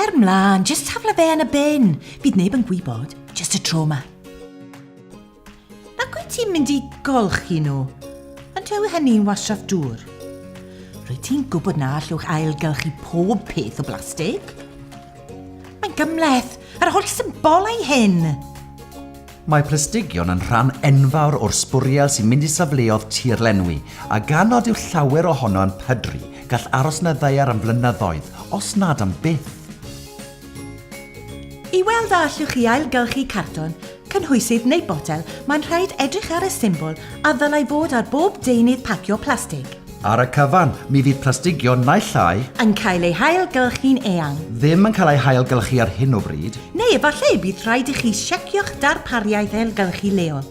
Cer mlaen, just tafla fe yn y bin. Bydd neb yn gwybod, just y tro ma. Ac wyt ti'n mynd i golchi nhw? Ond yw hynny'n wasraff dŵr? Rwyt ti'n gwybod na allwch ailgylchu pob peth o blastig? Mae'n gymleth, yr holl symbolau hyn! Mae Prysdygion yn rhan enfawr o'r sbwriel sy'n mynd i safleodd tirlenwi, a gan nad yw llawer ohono yn pydru, gall aros yn y ddaear am flynyddoedd, os nad am byth. I weld a allwch chi ailgylchu cartwn, cynhwysydd neu botel, mae'n rhaid edrych ar y symbol a ddylai fod ar bob deunydd pacio plastig. Ar y cyfan, mi fydd plastigion naill ai. Yn cael eu hailgylchu'n eang. Ddim yn cael eu hailgylchu ar hyn o bryd. Neu efallai y bydd rhaid i chi siecio'ch darpariaeth ailgylchu leol.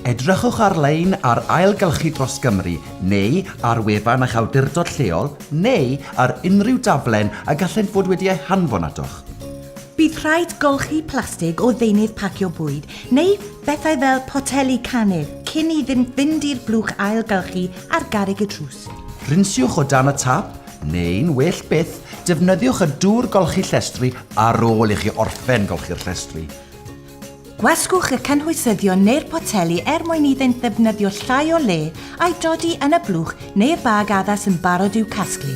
Edrychwch ar-lein ar Ailgylchu Dros Gymru neu ar wefan eich awdurdod lleol neu ar unrhyw daflen y gallent fod wedi eu hanfon atoch. Bydd rhaid golchi plastig o ddeunydd pacio bwyd neu bethau fel poteli canu cyn iddynt fynd i'r blwch ailgylchu ar garreg y drws. Rinsiwch o dan y tap, neu'n well byth, defnyddiwch y dŵr golchi llestri ar ôl i chi orffen golchi'r llestri. Gwasgwch y cynhwysyddion neu'r poteli er mwyn iddynt ddefnyddio llai o le a'i dodi yn y blwch neu'r bag addas yn barod i'w casglu.